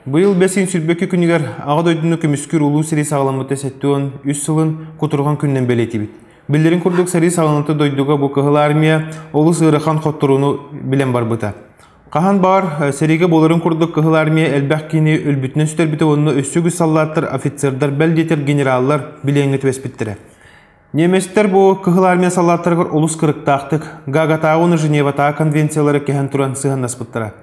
Быйыл бэсин сүрбөкү күнүгэр Аҕа дойдуну көмүскүүр Улуу сэрии саҕаламмыта сэттэ уон үс сылын кутурҕан күнүнэн бэлиэтибит. Биллэрин курдук, сэрии саҕаланыта дойдуга бу кыһыл армия олус ыарахан хотторууну билэн барбыта. Хаһан баар сэриигэ буоларын курдук Кыһыл Армия элбэх киһини өлбүтүнэн сүтэрбитэ уонна өссө үгүс саллааттар, офицердар, бэл диэтэр генераллар билиэҥҥэ түбэспиттэрэ. Немецтэр бу Кыһыл Армия саллааттарыгар олус кырыктаахтык Гагатааҕы уонна Женеватааҕы конвенциялары кэһэн туран сыһыаннаспыттара.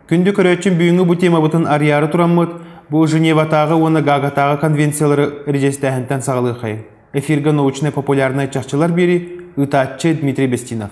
Күндү көрөөччүм бүгүҥҥү бу тиэмабытын арыйаары тураммыт бу Женеватааҕы уонна Гагатааҕы конвенциялары режистээһинтэн саҕалыаххайын. Эфиргэ научнай-популярнай чахчылар биэри, ыытааччы Дмитрий Бестинов.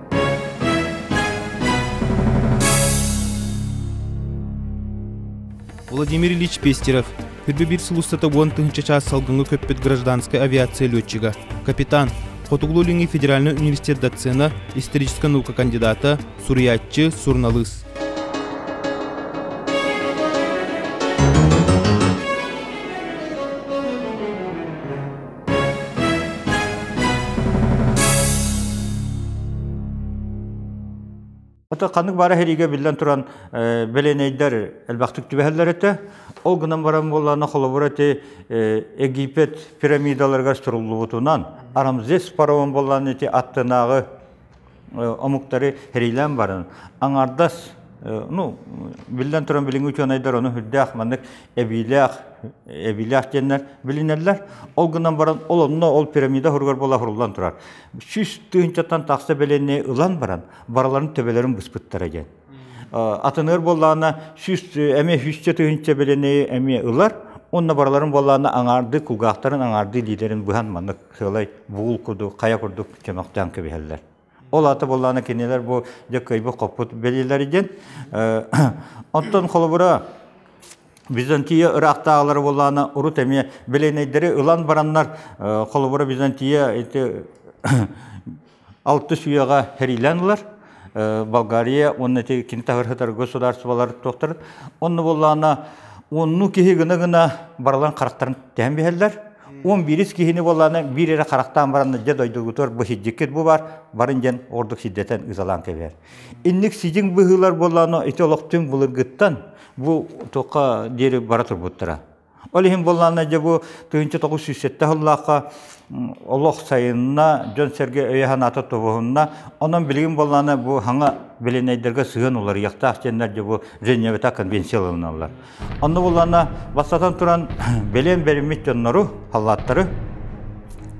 Владимир Ильич Пестерев, күрбү биир сыл устата уон тыһынча чаас салгыҥҥа көппүт гражданскай авиация летчига, капитан, Хотугулуу Илиҥҥи федеральнай университет доцена, историческай наука кандидата, суруйааччы, суруналыыс. Ото ханнык баара хериге биллэн туран беленейдер элбэхтик түбэһэллэр этэ. Ол гынан баран буоллаана холобур эти Египет пирамидаларыгар суруллубутунан арамзес парован боллаан эти аттынааҕы омуктары херилээн баран аҥардас ну биллэн туран билиҥҥи учуонайдар ону үрдээх маннык эбиилээх эбиилээх диэннэр билинэллэр ол гынан баран ол онно ол пирамида оһоругар буола оһоруллан турар сүүс тыһыынчаттан тахса бэлиэннэри ылан баран барыларын төбөлөрүн быспыттара диэн атыныыр буоллаҕына сүүс эмиэ сүүсчэ тыһыынча билини эмиэ ылар Онно барыларын буоллаана аҥаардыы кулгаахтарын аҥаардыы лиидерин быһан маннык сыалай буул курдук хайа курдук чөмөхтөөн кэбиһэллэр. Ол аата буоллаана кинилэр бу дьэ кыйбы хоппут билиилэри диэн. Оттон холобура Византия ыраахтааҕылары буоллаана урут эмиэ билиэнэйдэри ылан бараннар холобура Византия эти алтыс үйэҕэ хэрилэн ылар Болгария уонна ити кини таһырһытар государстволар туохтар онно буоллаана онну киһи гына гына барылан харахтарын тэһэн биһэллэр он биирис киһини буоллаана биир эрэ харахтаан баранна дьэ дойдугутугар бу хиддиккит бу баар барын дьэн ордук сиддэтэн ызалаан кэбээр инник сидиҥ быһыылар буоллаана ити олохтун былыргыттан бу туохха диэри бара турбуттара Ол иһин буоллаҕына дьэ бу тыһыынча тоҕус сүүс сэттэ сыллаахха олох сайынна, дьон-сэргэ өйө-санаата тобуһунна. Онон билигин буоллаҕына бу саҥа билинэйдэргэ сыһыан уларыйыахтаах диэннэр дьэ бу Женевата конвенция ылыналлар. Онно буоллаҕына, бастатан туран, билиэн бэриммит дьоннору, халлааттары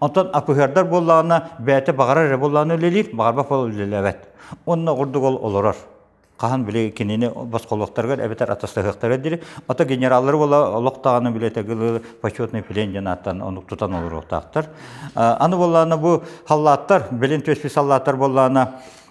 Онтон апыһыардар буоллаҕына, бэйэтэ баҕарар эрэ буоллаҕына үлэлиир, баҕарбат буол үлэлээбэт. Онно ордук ол олорор. Хаһан били кинини босхолуохтарыгар эбэтэр атастаһыахтара дири. Ото генераллары буола олохтааҕына билетегылы почетный плен диэн ааттан ону тутан олоруохтаахтар. Аны буоллаҕына бу халлааттар, билин түөспүт саллааттар буоллаҕына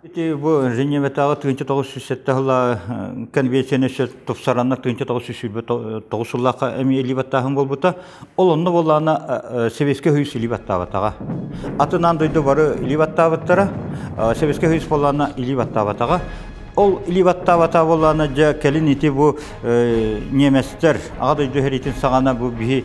Ити бу Женеватааҕы тыынча тоҕус сүүс сэттэ сыла конвенцияны сөп тупсаранна тыынча тоҕус сүүс сүүрбэ тоҕус сыллаахха эмиэ илии баттааһын буолбута. Ол онно буоллаана Советскай Союз илии баттаабатаҕа. Атынаан дойду бары илии баттаабыттара. Советскай Союз буоллаана илии баттаабатаҕа. Ол илии баттаабата буоллаана дьэ кэлин ити бу немецтэр аҕа дойду сэриитин саҕана бу биһи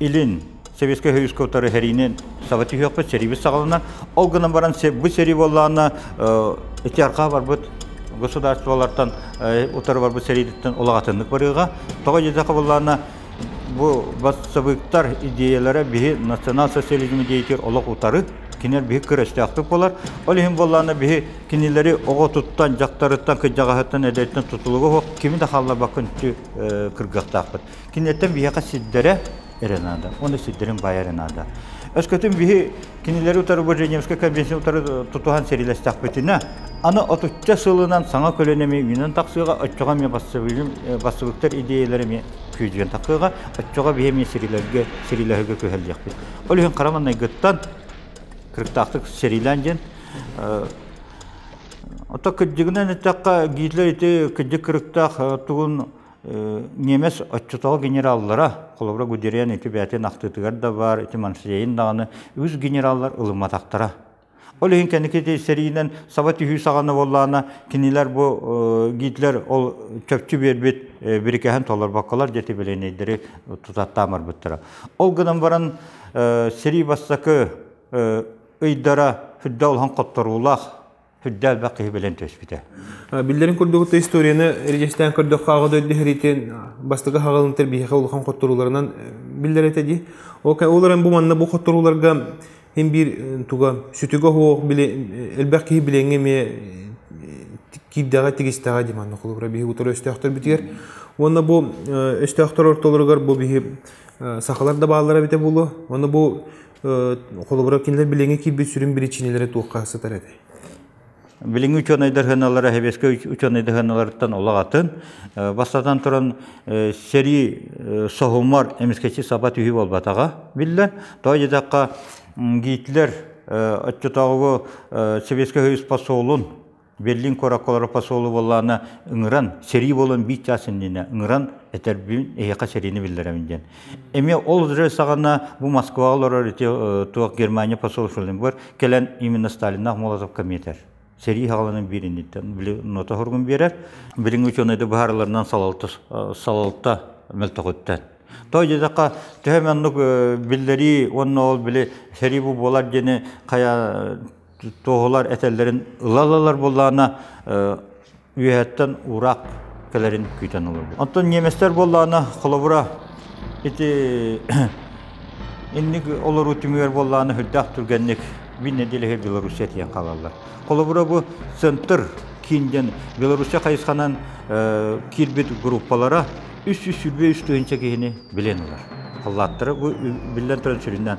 Илин Советскай Союзка утары сэриини саба түһүөхпүт сэрибит саҕалана. Ол гынан баран бу сэрии буоллаана ити арҕаа барбыт государстволартан утары барбыт сэриититтэн улаҕатыннык барыыга. Тоҕо дьизэхэ буоллаана бу бассабыыктар идеялара биһи национал-социализм идеятигэр олох утары кинилэр биһи күрэстээхтик болар. Ол иһин буоллаана биһи кинилэри оҕо туттан, дьахтарыттан, кыдьаҕаһыттан, эдэртэн тутулуга кими да хаалларбакка үнтү кыргаттаахпыт. Кинилэртэн биһиэхэ сирдэрэ эрэ наада. Уонна сирдэрин баайа эрэ наада. Өскөтүн биһи кинилэри утары бу Женевскай конвенцияны утары тутуһан серилэстэхпитинэ, аны отучча сылынан саҥа көлөнө эмиэ үүнэн тахсыаҕа, оччоҕо эмиэ бассабыыктар идеялара эмиэ күүдьүөн тахсыаҕа, оччоҕо биһи эмиэ сирилэргэ, сирилэһэргэ күһэллиэхпит. Ол иһин хара маҥнайгыттан кырыктаахтык сериилээн диэн Ото кырдьыгынан эттэххэ, Гитлер ити кырдьык кырыктаах тугун Немец отчутого генераллара, холобура Гудериан ити бээтин ахтыытыгар да баар, ити Марсиейин даҕаны үгүс генераллар ылымматахтара. Ол иһин кэнники сэриинэн саба түһүү саҕана буоллаана кинилэр бу Гитлер ол чопчу биэрбит бирикэһин толорбокколор диэти билиэнэйдэри тутаттаамарбыттара. Ол гынан баран сэрии бастакы ыйдара сүрдэ олоһон хотторуулаах Сүрдэ элбэх киһи билэн түспүтэ. Биллэрин курдук историяны эрежестээн көрдөххө аҕа дөйдөһөритин бастакы хагалынтер биһиэхэ улахан хотторууларынан биллэр этэ ди. Ол эрэн бу манна бу хотторууларга хин биир туга сүтүгө хоох били элбэх киһи билеҥе ме киирдэҕэ тигистэҕэ ди манна холобура биһи утар өстөөхтөрбүтигэр уонна бу өстөөхтөр ортолоругар бу биһи сахалар да бааллара бите булу уонна бу холобура кинилэр билиҥҥи киирбит сүрүн биричиинэлэрэ туохха сытар этэй? Билиҥҥи учуонайдар хыналара хэбиэскэ учуонайдар хыналарыттан олох атын. Бастатан туран сэрии соһумар эмискэчи саба түһүү болбатаҕа биллэн. Той дедаққа Гитлер оччотооҕу Советскай Союз посолун Берлин куораккалара посолу буоллаана ыҥыран, сэрии буолан биир чаас иннинэ ыҥыран этэрбин эһиэхэ сэриини биллэрэбин диэн. Эми ол же саҕана бу Москваҕа олорор ити туох Германия посол быгар кэлэн именно Сталиннаах Молотов комитет сэрии хагаланын биириниттэн били нота хоргун биэрэр билиҥ учуонайда быһаарыларынан салалта салалта мөлтөҕүттэн той дедаққа төһө маннук биллэрии уонна ол били сэрии бу буолар диэни хая туоһулар этэллэрин ыла ылалар буоллаҕына үөһэттэн уураах кэлэрин күүтэн олорбут. Онтон немецтэр буоллаҕына холобура ити инник олоруу түмүгэр буоллаҕына үрдээх түргэнник бин неделяһы Белоруссия тиийэн хаалаллар. Холобура бу центр киин диэн Белоруссия хайысханан киирбит группалара үс үс үбүө үстүһүнчэ киһини билэн ылар. Халлааттара бу биллэн туран сүрүннээн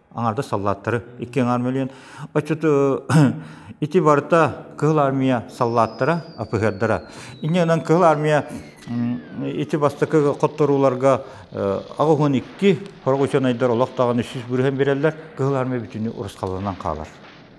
аҥардас саллааттары икки аҥаар мөлүйүөн оччот ити барыта Кыһыл Армия саллааттара АПХРдара иннинэн Кыһыл Армия ити бастакы хотторууларга аҕыһын икки хороҕучанайдар олох даҕаны сүүс бүрүһэн береллер Кыһыл Армия бүтүннүү урусхаланан хаалар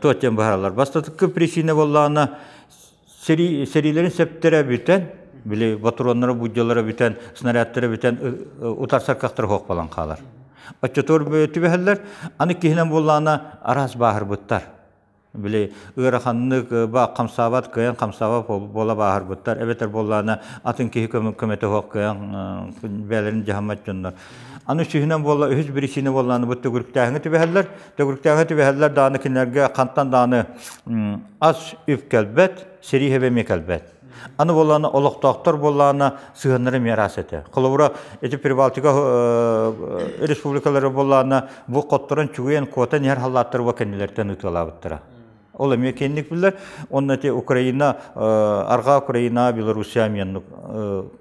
туох диэн быһаараллар бастатыкка причина буоллаҕына сэрии сэриилэрин сөптөрө бүтэн били ботуруоннара буддялара бүтэн снарядтара бүтэн утар саркахтара хуохпалан хаалар оччотугар түбэһэллэр аны киһинэн буоллаҕына араас бааһырбыттар били ыараханнык баак хамсаабат кыайан хамсаабат буола бааһырбыттар эбэтэр буоллаҕына атын киһи көмөтө суох кыайан бэйэлэрин дьаһаммат дьоннор Аны үсүһүнэн буолла үһүс биричиинэ буоллааны бу төгүрүктээһиҥи түбэһэллэр. Төгүрүктээһиҥи түбэһэллэр дааны кинилэргэ хантан дааны ас үп кэлбэт, сэрии хэбэмиэ кэлбэт. Аны буоллаана олохтоохтор буоллаана сыһаннары миэрас этэ. Холобура, эти Прибалтика республикалары буоллаана бу хотторон чугуйан куотан иһэр халлааттар уга кэннилертен ытыалаабыттара. Ол эмиэ киэнник биллер. Онна те Украина, арга Украина, Белоруссия меннук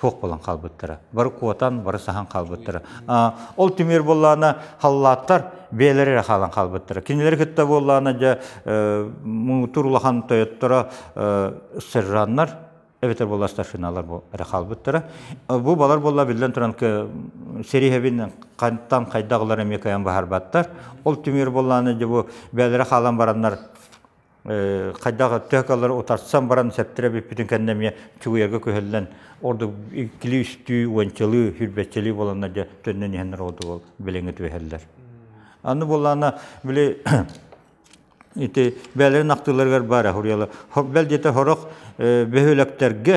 суох буолан хаалбыттара. Бары куотан, бары саһан хаалбыттара. Ол түмэр буоллаана халлааттар бээлери эрэ хаалан хаалбыттара. Кинилери кытта буоллаана дьэ муутур улахан тойотторо сержаннар эбэтэр буолла старшиналар бу эрэ хаалбыттара. Бу балар буолла биллэн туран сериһэбин хантан хайдагылар эмиэ кайан баһарбаттар. Ол түмэр буоллаана дьэ бу бээлери хаалан бараннар хайдах тыакалары утарсан баран сэптэрэ бүппүтүн кэннэ эмиэ чугуйарга күһэллэн ордук иккилии үстүү уончалыы сүүрбэччэлии буоланна дьэ төннөн иһэн ордук билиҥҥи түһэллэр аны буоллаана били ити бээлэрин ахтыыларыгар баара хуриала бэл диэте сорох бөһүөлэктэргэ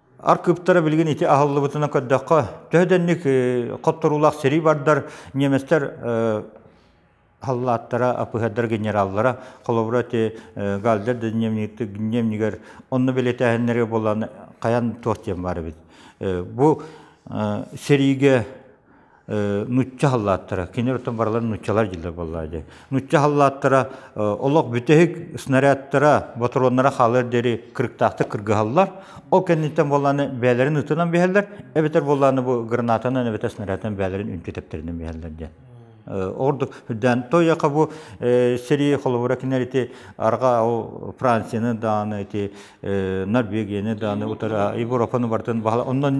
Ар кыптара билигин ити аһыллыбытынан көрдөххө, төһө дэнник хотторуулаах сэрии бардар, немецтэр халлааттара, АПХ-дара, генераллара, холобура, те Гальдер да дневнигер, онно билетээһиннэри болан, каян туох диэн бар эбит. Бу сэриигэ нучча халлааттара кинилэр оттон барылар нуччалар дьиллэр буолла дии нучча халлааттара олох бүтэһик снарядтара ботуруоннара хаалар диэри кырыктаахтык кыргыһаллар ол кэнниттэн буолланы бээлэрин ытынан биһэллэр эбэтэр буолланы бу гранатанан эбэтэр снарядтан бээлэрин үнтү тэптэринэн биһэллэр диэн ордук даан тойака бу сэрии холобура кинилэр ити арга ол францияны дааны ити норвегияны дааны утары европаны бартын баһала оннон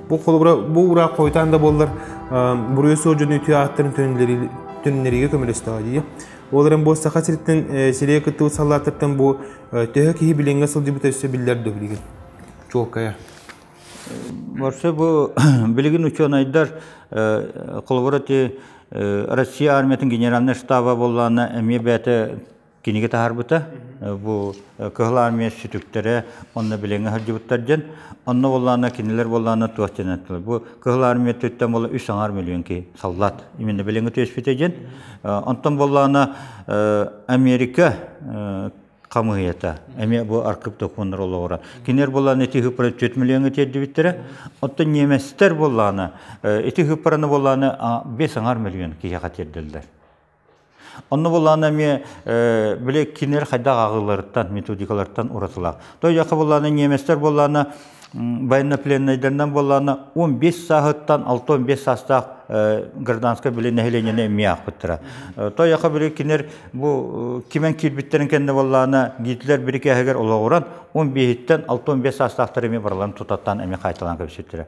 Бу холобура бу ураак хойутаан да буоллар буруйу суох дьону үтүө ааттарын түннэриигэ көмөлөстөҕө дии. Ол эрэн бу Саха сириттэн сирие кыттыбыт саллааттартан бу төһө киһи билиҥҥэ сылдьыбыт өссө биллэр да билигин. Чуолкая. Борсо бу билигин учуонайдар холобура ти Россия армиятын генеральный штаба боллаана эмиэ бэйэтэ кинигэ таһаарбыта. Бу Кыһыл Армия сүтүктэрэ онно билиҥҥэ сылдьыбыттар дьон. Онно боллаана кинилэр боллаана туох диэн эттилэр. Бу Кыһыл Армия өттүттэн була үс аҥаар миллион ки саллаат именно билиҥҥи түөспүтэ дьин. Онтон боллаана Америка хамыйата эмиэ бу аркып докумуннар олоҕура. Кинилэр боллаана ити хыпара 4 миллион тиэрдибиттэрэ. Оттон немецтэр боллаана ити хыпараны боллаана 5 аҥаар миллион киһиэхэ тиэрдилэр. Онно булаана эмиэ били кинилэр хайдах ааҕыыларыттан, методикалартан уратылаах. То яха булаана немецтер булаана военнопленнайдарынан булаана 15 сааһыттан 6-15 саастаах гражданскай били нэһилиэнньэни эмиэ аахпыттара. То яха били кинилэр бу кимэн киирбиттерин кэннэ булаана Гитлер бирикээһигэр олоҕуран 15-ттэн 6-15 саастаахтар эмиэ барыларын тутаттаан эмиэ хаайталаан кэбиспиттэрэ.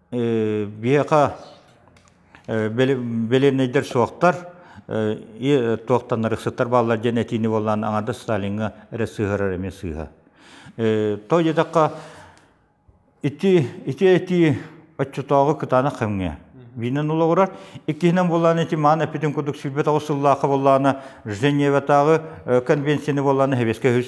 Биһиэхэ бэлиэнэйдэр суохтар, туохтанар ыксыттар бааллар диэн этиини буоллаан аҥардас Сталиҥҥа эрэ сыыһарар эмиэ сыыһа. Тоҕо диэтэххэ, ити ити этии оччотооҕу кытаанах кэмҥэ биинэн олоҕурар. Иккиһинэн буоллаан ити маан эппитин курдук сүүрбэ тоҕус сыллаахха буоллаҕына Женеватааҕы конвенцияны буоллаҕына сэбиэскэ үһүс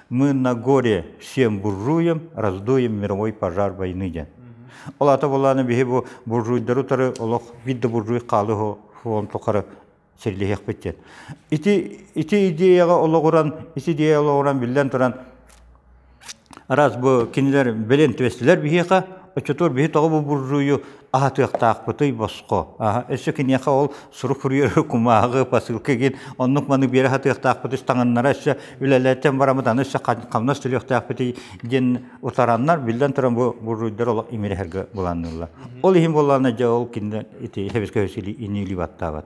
Мы на горе всем буржуям раздуем мировой пожар войны диэн. Ол ата булааны биһи бу буржуйдары утары олох видда буржуй хаалы хуон тухары сирлиһиэхпит диэн. Ити ити идеяга олоҕуран ити идея олоҕуран биллэн туран раз бу кинилэр билин түстүлэр биһиэхэ оччотур биһи тоҕо бу буржуйу аһатыахтаахпытый босхо өссө киниэхэ ол сурук суруйары кумааҕы посылка гин оннук маны биэри хатыахтаахпыт үстаҥаннара өссө үлэлэттэн барамыт аны өссө хамнас төлүөхтаахпытый диэн утараннар биллэн туран бу буруйдар олох имирэһэргэ буланнылла ол иһин боллаана дьэ ол кинилэр ити хэбискэ ини баттаабат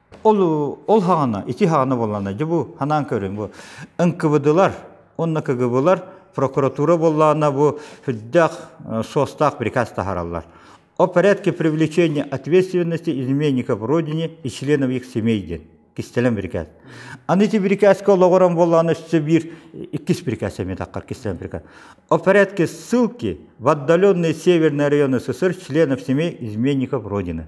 Ол ол хаҕана, ити хаҕана буоллана дьэ бу ханаан көрүн бу ынкыбыдылар уонна кыгыбылар прокуратура буоллаана бу үрдээх суостаах приказ таһараллар о порядке привлечения ответственности изменников родине и членов их семей диэн кистэлэн приказ аны ити прикаска олоҕуран буоллаана өссө биир иккис приказ эмиэ таххар кистэлэн приказ о порядке ссылки в отдаленные северные районы ссср членов семей изменников родины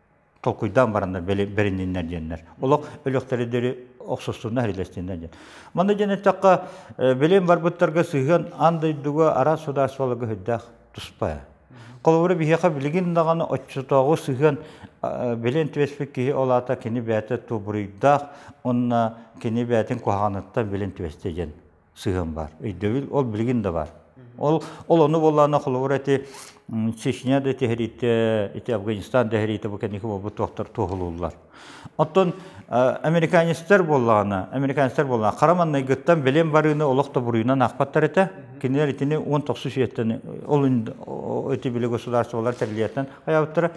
толкуйдаан бараннар бэринниннэр диэннэр олох өлөхтөрү охсустунна хәрилэстиннэр диэн манна диэн эттэххэ билим барбыттарга сыһыан ан дойдуга араас судаарстволарга хүддээх туспа холобура биһиэхэ билигин даҕаны оччотооҕу сыһыан билин түбэспит киһи ол аата кини бэйэтэ тубуруйдаах уонна кини бэйэтин куһаҕаныттан билин түбэстэ диэн сыһыан бар. Өйдөбүл ол билигин да бар. Ол ол ону буоллаана холобур эти Чечня да тиһэриитэ, ити Афганистан тиһэриитэ бу кэнники буолбут туохтар туоһулууллар. Оттон американецтар буоллаана, американецтар буоллаана хараманнайгыттан билен барыыны олох то буруйунан ахпаттар этэ. Кинилэр итини 1907-тэн ол эти биле государстволар тэрилиятынан хаябыттара.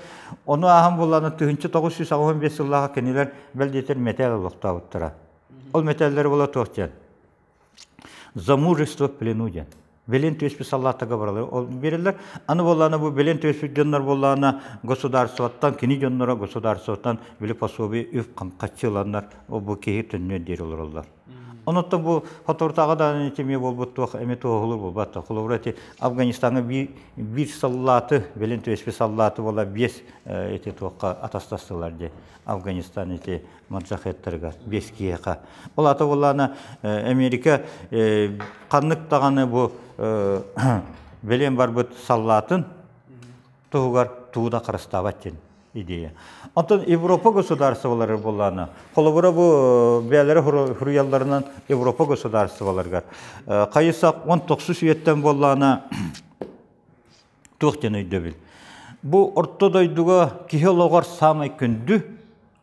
Ону аахан буоллаана тыһынчы 915 сыллааҕа кинилэр бэл диэтэр мэтээ олохтаабыттара. Ол мэтээллэр була туох диэн за мужество в плену диэн билин түөспүт саллааттарга баралар ол берилер аны боллаана бу билин түөспүт дьоннор боллаана государствоттан кини дьонноро государствоттан били пособие үп қаччыланнар бу киһи төннүөн диэри олороллор онотто бу хотортаага да тиме болбут туох эми туохулур булбат холобура ти афганистанга би бир саллааты билин түөспү саллааты бола биэс эти туохка атастастылар ди афганистан ити морзахеттарыгар бес киһиэхэ ол ата боллаана америка ханнык даҕаны бу белен барбыт саллаатын туһугар тууна харыстаабат дин идея онтон европа государстволары боллаана холобура бу бээлери хуруйалларынан европа государстволаргар хайысак он токсус үйеттен боллаана туох ден өйдөбүл бу орто дойдуга киһи олоғор самый күндү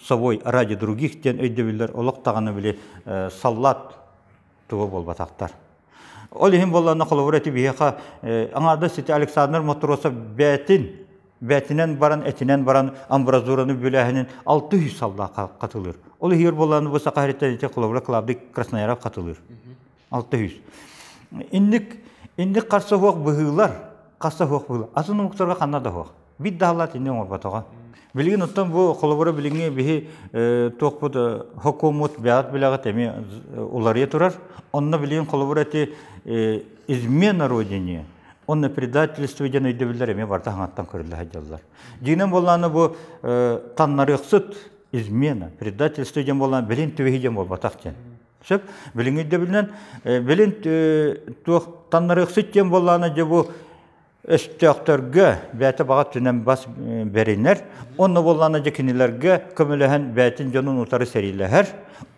собой ради других диэн өйдөбүллэр олох даҕаны били саллаат туга буолбатахтар ол иһин буоллаҕына холобур эти биһиэхэ аҥаардас ити александр матросов бээтин бээтинэн баран этинэн баран амбразураны бүлээһинин алты үс саллаат хатылыыр ол иһигэр буоллаҕына бу саха һэриттэн ити холобура клавдий краснояров хатылыыр 600. Инник инник харса хуох быһыылар, харса хуох быһыылар. Атын омуктарга ханна да хуох. Бит даһалаат инни оңорботоҕо. Билигин оттон бу холобура билиҥҥи биһи туохпут хокумут бэҕэт билэҕит эми уларыйа турар. Онно билигин холобура эти измена родине онно предательство диэн өйдөбүллэр эми барта хаҥаттан көрүллэһэ дьаллар. Динен боллааны бу таннарыахсыт измена, предательство диэн боллаан билин түбэһи диэн болбатах диэн. Сөп, билиҥ өйдөбүлүнэн, билин туох таннарыахсыт диэн буоллаана дьэ бу өстөөхтөргө бэйэтэ баҕа түнэн бас бэринэр, онно буоллаана дьэ кинилэргэ көмөлөһөн бэйэтин дьонун утары сэриилэһэр,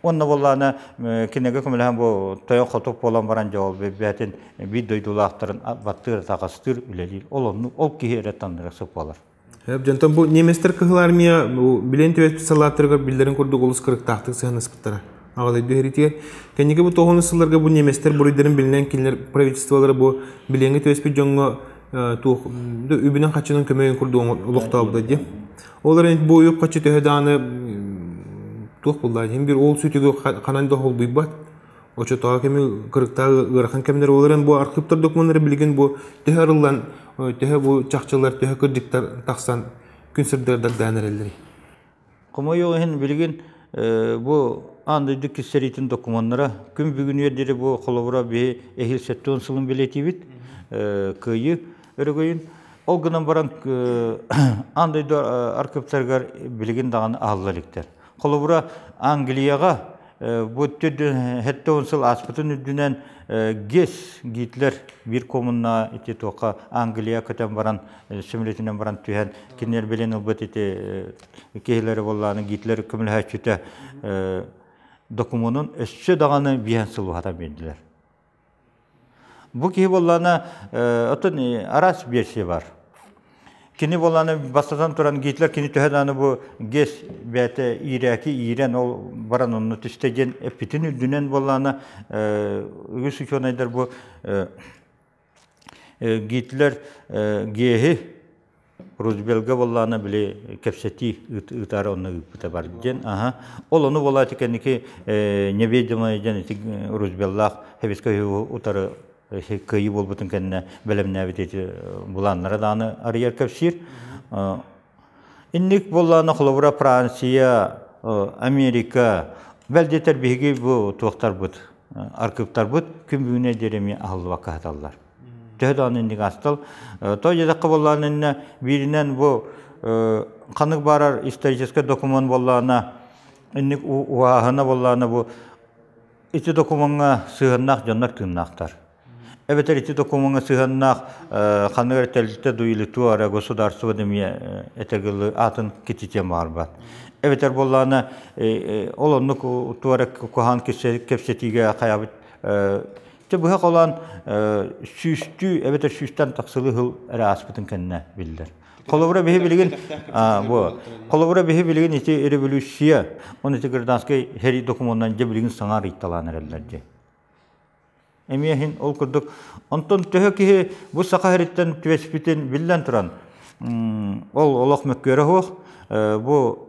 онно буоллаана кинигэ көмөлөһөн бу тойон хотук буолан баран дьэ ол бэйэтин биир дойдулаахтарын баттыыр атаҕастыыр үлэлиир. Ол онну ол киһи эрэ таннарыахсыт буолар. Сөп дьонтон бу немецтэр Кыһыл Армия бу билин түбэспит салааттарыгар биллэрин курдук олус кырыктаахтык сыһанаспыттара. Аҕалайда үһүритигэр кэнники бу тоҕуну сылларга бу немецтэр буруйдарын билинэн кинилэр правительстволара бу билиҥҥи түбэспит дьоҥҥо туох үбүнэн хаччынан көмөйүн курдук олохтообута дии. Ол эрэн бу уйук хаччы төһө дааны туох буллаан иһин бир ол сүтүгү ханан да холбуйбат. Очотоҕо кэми кырыктаах ыарахан кэмнэр буолар эн бу архыыптар докумуоннара билигин бу төһө арыллан, төһө бу чахчылар, төһө кырдьыктар тахсан күн сырдарыгар даан эрэллэрий? Хомойуох иһин билигин бу аан дойду кистэриитин докумуоннара күн бүгүнүгэр диэри бу холобура биһи эһиил сэттэ уон сылын билетибит кыайыы өрөгөйүн. Ол гынан баран аан дойду архыыптарыгар билигин даҕаны аалла иликтэр. Холобура, Англияҕа бу хэттэ он сыл ааспытын үрдүнэн ГИС Гитлер биир коммунна ити туоха Англия көтөн баран сөмөлөтүнэн баран түһэн кинилэр билин ылбыт ити киһилэри боллааны Гитлер көмөлөһөөччүтэ докумуонун өссө даҕаны биһэн сылуһата бэрдилэр. Бу киһи буоллаҕына оттон араас версия бар. Кини буоллаҕына бастатан туран Гитлер кини төһө даҕаны бу ГЭС бэйэтэ иирээки иирэн ол баран онно түстэ диэн эппитин үрдүнэн буоллаҕына үгүс учуонайдар бу Гитлер ГЭСи Рузвельга буоллаана били кэпсэтии ыытаары онно ыыппыта бар диэн аха ол ону буолаачы кэнники неведомая дьэн ити Рузвеллаах хебиска утары кыйы буолбутун кэннэ бэлэмнээбит эти булааннара дааны арыйар кэпсиир инник буоллаана холобура Франция Америка бэл диэтэр биһиги бу туохтарбыт аркыптарбыт күмбүүнэ дереме аһыллыбакка хаталлар төһө даҕаны инник астыл той дедахха буоллаҕына иннэ бииринэн бу ханнык баарар историческай документ буоллаҕына инник уһааһына буоллаҕына бу ити докумуоҥҥа сыһыаннаах дьоннор тыыннаахтар эбэтэр ити докумуоҥҥа сыһыаннаах ханнык эрэ тэрилтэ дуилиту ара государство эмиэ этэгылы аатын кититиэ маарбат эбэтэр буоллаҕына ол оннук туора куһаан кэпсэтиигэ хайабыт Чэ, быһа холоон сүүстүү эбэтэр сүүстэн тахсылы сыл эрэ ааспытын кэннэ биллэр. Холобура биһи билигин холобура биһи билигин ити революция он эти гражданскай хери документынан дьэ билигин саҥа рыйталаан эрэллэр дьэ. Эмиэ иһин ол курдук онтон төһө киһи бу саха хериттэн түөспүтүн биллэн туран ол олох мөккүөрэ суох бу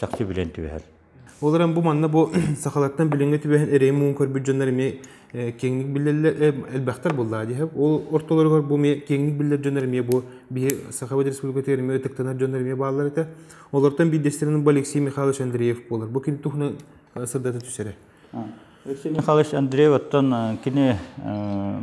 чахчы билэн түбэһэр. Ол эрэн бу манна бу сахалартан билиҥҥи түбэһэн эрэйи муҥун көрбүт дьоннор эмиэ киэҥник биллэллэр элбэхтэр буоллаа дии ол ортолоругар бу эмиэ киэҥник биллэр дьоннор эмиэ бу биһи Сахабыт Республикатыгар эмиэ ытыктанар дьоннор эмиэ бааллар этэ олортон биирдэстэринэн бу Алексей Михайлович Андреев буолар бу кини туһунан сырдата түсэрэ Алексей Михайлович Андреев оттон кини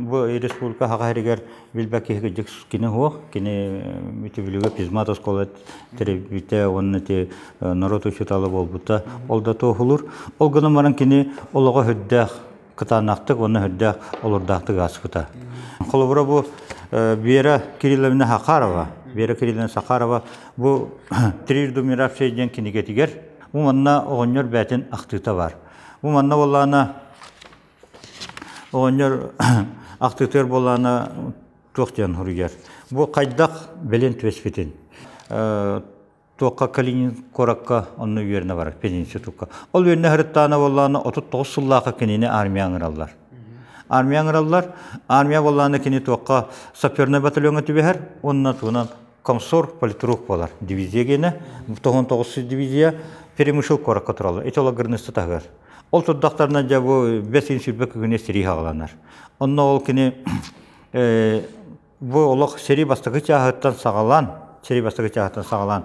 бу республика хаҕа иһэригэр билбэт киһи кырдьык кини уох, кини Үтүлүгэ физмат оскуола төрөппүтэ уонна ити норуот учуутала буолбута ол да туоһулуур. Ол гынан баран кини олоҕо үрдээх кытаанахтык уонна үрдээх олурдаахтык ааспыта. Холобура бу Вера Кирилловна Хакарова, Вера Кирилловна Сахарова бу «Трижды умиравшая» диэн кинигэтигэр Бу манна оҕонньор бээтин ахтыыта бар. Бу манна буоллаана оҕонньор ахтыытыгар буоллаана туох диэн хоруйар. Бу хайдах белен түбэспитин туохха Калинин куоракка онно үөрэнэ барар пединститутка. Ол үөрэнэ хырыттаана буоллаана 39 сыллаахы кинини армия аңыраллар. Армия аңыраллар. Армия буоллаана кини туохха саперный батальоҥа түбэһэр уонна туһунан Комсорг политрук буолар дивизия генэ, тоһун тоҕус дивизия перемышыл корокко туралар, этологырнысты таһыар. Ол турдақтарына жа бу бес ин сүрбе күгіне сирий хагаланар. Онно ол кини бу олох сери бастакы чаһыттан сагалан, сери бастакы чаһыттан сагалан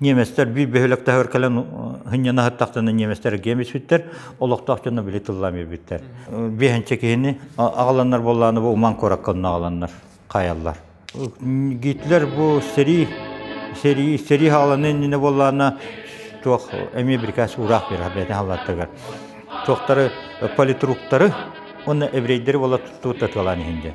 Ниеместер биир бөһүөлэк таһыгар кэлэн һынньан аһаттахтына ниеместер гиэм испиттэр, олохтоох дьоно били тыллаан биэрбиттэр. Биэһэнчэ киһини аҕаланнар буоллааны бу Уман куоракка онно аҕаланнар хаайаллар. Гитлер бу сэрии сэрии сэрии хааланы иннинэ буоллаана туох эмиэ бирикээс уураах бирэх бэйэтин халлааттыгар туохтары политруктары уонна еврейдэри буола туттубут татыалаан иһин диэн.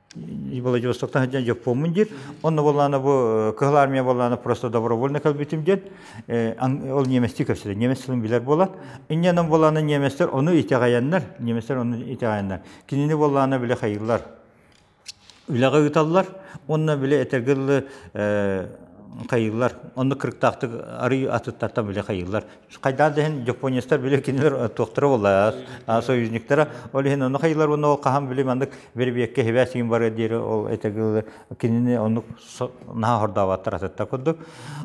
Владивостоктан сылдьан дьоппуоммун диир. Онно боллаана бу Кыһыл Армия боллаана просто добровольно кэлбитим диэн ол немецтии кэпсэтэр. Немец тылын билэр буолан. Инньэнэн боллаана немецтэр ону итэҕэйэннэр, немецтэр ону итэҕэйэннэр, кинини боллаана билэ хайыллар. Үлэҕэ ыыталлар. Онно биле этэргылы хайыллар. Онно кырыктаахтык арый атыттартан билэ хайыллар. Хайдаан дэһин японецтар били кинилэр туохтара болла союзниктара ол иһин ону хайылар уонна ол хаһан били маннык вербиекке хибэ сиин бары диэри ол этегil кинини оннук наха хордаабаттар атытта курдук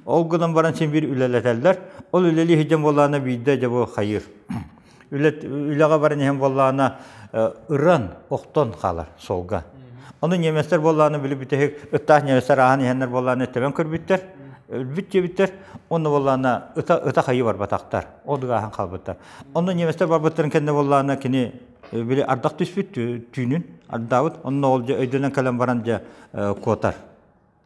ол гынан баран син бир үлэлэтэллэр ол үлэлии хижем болаана биирде жабы хайыр үлэҕэ баран иһэн буоллаҕына ыран, охтон хаалар солга. Ону немецтэр буоллаҕына били бүтэһик ытаах немецтэр ааһан иһэннэр буоллаҕына тэбэн көрбүттэр, өлбүт диэбиттэр, онно буоллаҕына ыта ытах айыы барбатахтар, от ааһан хаалбыттар. Онно немецтэр барбыттарын кэннэ буоллаҕына кини били ардах түспүт түүнүн ардаабыт, онно ол дьэ өйдөнөн кэлэн баран дьэ куотар.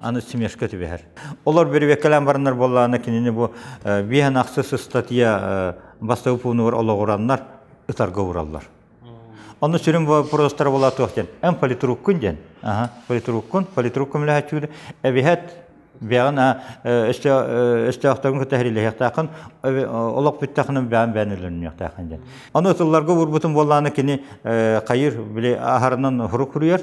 аны смешка түбэһэр. Олор бүрүбэккэлээн бараннар буоллаҕына кинини бу биэһэн ахсыс ыстатыйа бастакы пуунугар олоҕураннар ытарга уураллар. Онно сүрүн вопростара була туох диэн эн политруккун диэн аха политруккун политруккун үлэһэчүүр эбиһэт бэҕэн өстөөхтөргүн кытта хәрилэһиэхтээхин олох бүттэхинин бэйэн бэйэн өлөннүөхтээхин диэн. Аны ытылларга уурбутун буоллааны кини хайыр били аһарынан хурук хуруйар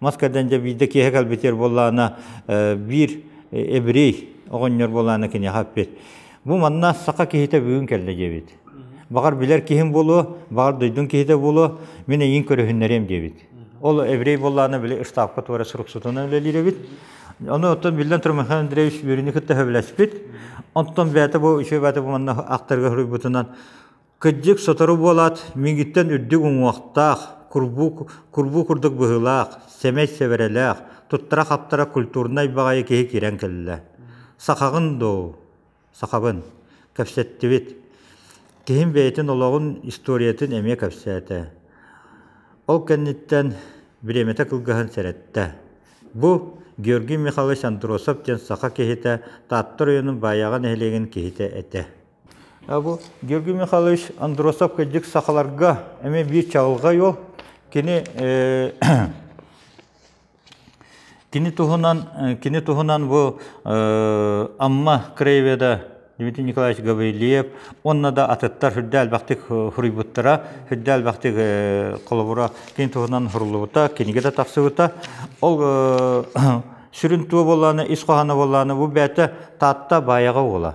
Мас кэрдэн дьэ биирдэ киэһэ кэлбитиэр буоллаана биир эбирей оҕонньор буолаана киниэхэ эппит. Бу манна саха киһитэ бүгүн кэллэ диэбит. Баҕар билэр киһим буолуо, баҕар дойдум киһитэ буолуо, мин эйиин көрүһүннэриэм диэбит. Ол эбирей буоллаана били ыштаапка туора суруксутунан үлэлиир эбит. Ону оттон биллэн турар Михаил Андреевич Бөрүнү кытта сөбүлэспит. Онтон бэйэтэ бу үчүгэй бэйэтэ бу манна ахтарга суруйбутунан Кырдьык, сотору буолаат, миигиттэн үрдүк уҥуохтаах, курбуу, курбуу курдук быһыылаах, сэмэй сэвэрэлээх, туттара-хаптара культурнай баҕайы киһи киирэн кэллэ. Сахаҕын дуу? Сахабын. Кэпсэттибит. Киһим бэйэтин олоҕун, историятын эмиэ кэпсээтэ. Ол кэнниттэн бириэмэтэ кылгаһын сэрэттэ. Бу Георгий Михайлович Андросов диэн саха киһитэ Таатта оройуонун Баайаҕа нэһилиэгин киһитэ этэ. Бу Георгий Михайлович Андросов кырдьык сахаларга эмиэ биир чаҕылҕай уол. Кини кини туһунан кини туһунан бу Амма краеведа Дмитрий Николаевич Гаврильев уонна да атыттар сүрдэ элбэхтик суруйбуттара, сүрдэ элбэхтик холобура кини туһунан суруллубута, кинигэтэ тахсыбыта. Ол сүрүн туо буоллаана, ис хоһооно буоллаана бу бэйэтэ Таатта Баайаҕа уола.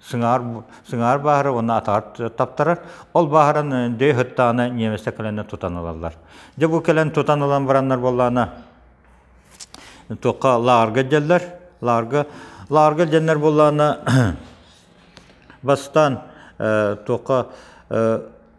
Сыҥаар, сыҥаар баара уонна атаҕар таптарар. Ол бааһыран дөй ыһыттаҕына немецтэр кэлэн тутан ылаллар. Дьэ бу кэлэн тутан ылан бараннар буоллаана туохха лаарга дьэллэр. Лаарга лаарга дьэннэр буоллаана бастаан туохха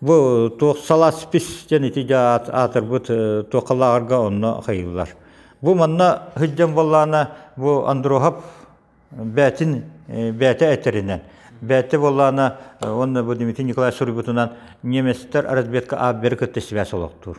Бу туох саласпис диэн ити дьэ аатырбыт туохалааҕарга онно хайыыллар. Бу манна сылдьан буоллаана бу Андроһап бээтин бээтэ этэринэн бээтэ буоллаана уонна бу Дмитрий Николаевич суруйбутунан немецтэр разведка аап бэрэ кытта сибээс олохтуур.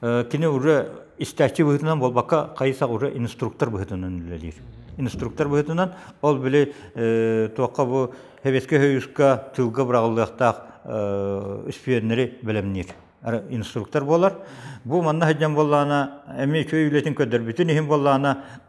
Кини уже истээччи быһыытынан буолбакка, хайысах уже инструктор быһыытынан үлэлиир. Инструктор быһыытынан ол били туохха бу Хэбэскэ хойуска тылга быраҕыллыахтаах испиэннэри бэлэмниир инструктор буолар. Бу манна сылдьан буоллаана, эмиэ үчүгэй үлэтин көрдөрбүтүн иһин буоллаана,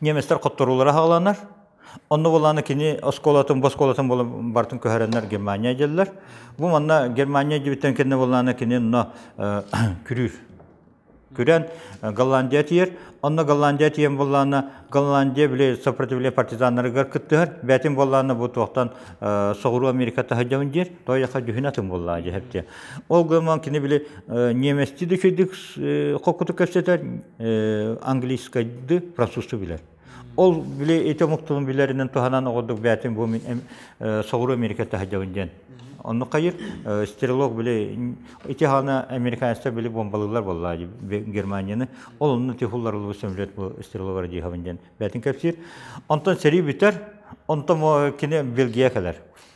немецтэр хотторуулара хааланар онно буолааны кини оскуолатын бу оскуолатын буолан бартын көһөрөннөр германия дьэллэр бу манна германия дьибиттен кенне буолааны кини но күрүүр күрэн голландия тиер онно голландия тиен буолаана голландия биле сопротивление партизаннарыгар кыттыһар бэтин буолаана бу туохтан соҕуруу америка таһыдьамын диер той яха дүйүн атын буоллаа дьэһэптиэ Ол гынан кини били немецти да үчэйдик хоккуту кэпсэтэр, английскайды, французчу билэр. Ол били ити омуктун билэринен туһанан оҕордук бээтин бу мин соҕуру Америка таһыдьабын диэн. Онну хайыр стрелок били ити хана американецтер били бомбалылар болла Германияны. Ол онну тихулларылы сөмлет бу стреловар диһабын диэн бээтин кэпсиир. Онтон сeri бүтэр, онтон кини Белгия кэлэр.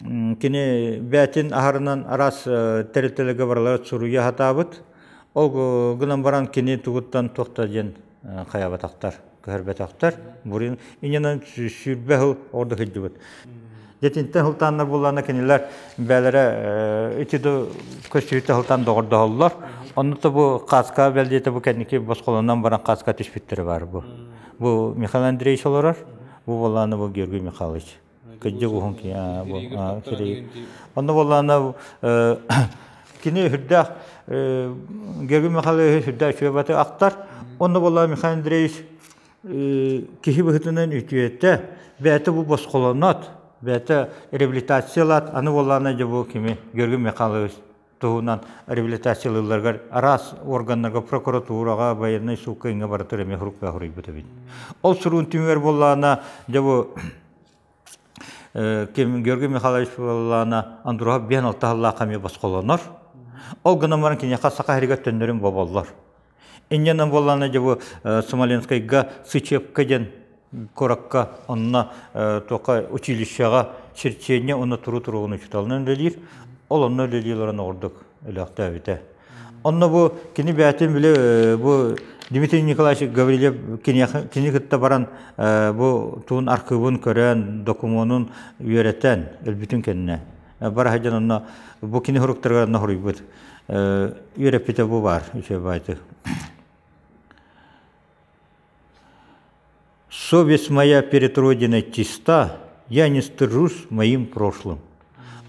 Кини бээтин аһарынан араас тэрилтэлэргэ барылары суруйа сатаабыт. Ол гынан баран кини тугуттан туох да диэн хайаабатахтар, көһөрбөтөхтөр. Бурин иннинэн сүүрбэ сыл орду сылдьыбыт. Дэтинтэн сылтаанна буллана кинилэр бээлэрэ итиду көсүһүтэ сылтаан доҕордоһоллор. Оннута бу кааска бэлдиэте бу кэнники босхолонон баран кааска түспүттэрэ баар бу. Бу Михаил Андреевич олорор. Бу боллааны бу Георгий Михайлович. кыддьык уһун киһи сири онно буоллаана кини үрдээх Георгий Михайлович үрдээх чүөбаты актар онно буоллаа Михаил Андреевич киһи быһытынан үтүөтэ бэйэтэ бу босхолонот бэйэтэ реабилитациялаат аны буоллаана дьэ бу кими Георгий Михайлович туһунан реабилитациялыылларыгар араас органнарга, прокуратураҕа, военнай суукка лаборатория эмиэ хуруктаах уруйбут эбит. Ол суруун түмүгэр буоллаана, дьэ бу ким Георгий Михайлович буоллаана Андуров биһэн алта халлаах эмиэ босхолонор. Ол гынан баран киниэхэ саха херигэр төннөрүн боболлор. Инньэ буолланы дьэ бу Смоленскайга Сычепка диэн куоракка онно туоха училищеҕа черчение уонна туру туругун учууталынан үлэлиир. Ол онно үлэлии олорон оҕурдук өлөөхтөөбүтэ. Онно бу кини бээтин били бу Дмитрий Николаевич Гаврильев кини кытта баран бу туун архыыбын көрөн, докумуонун үөрэтэн, өлбүтүн кэннэ бара сылдьан онно бу кини суруктарыгар норуйбут үөрэппитэ бу баар үчүгэй баайты совесть моя перед родиной чиста я не стыжусь моим прошлым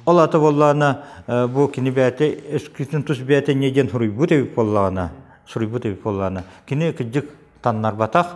ол ата боллаана бу кини бэйэтэ өскүтүн тус бэйэтэ не диэн суруйбут эбит боллаана суруйбут эбит боллаана кини кырдьык таннарбатах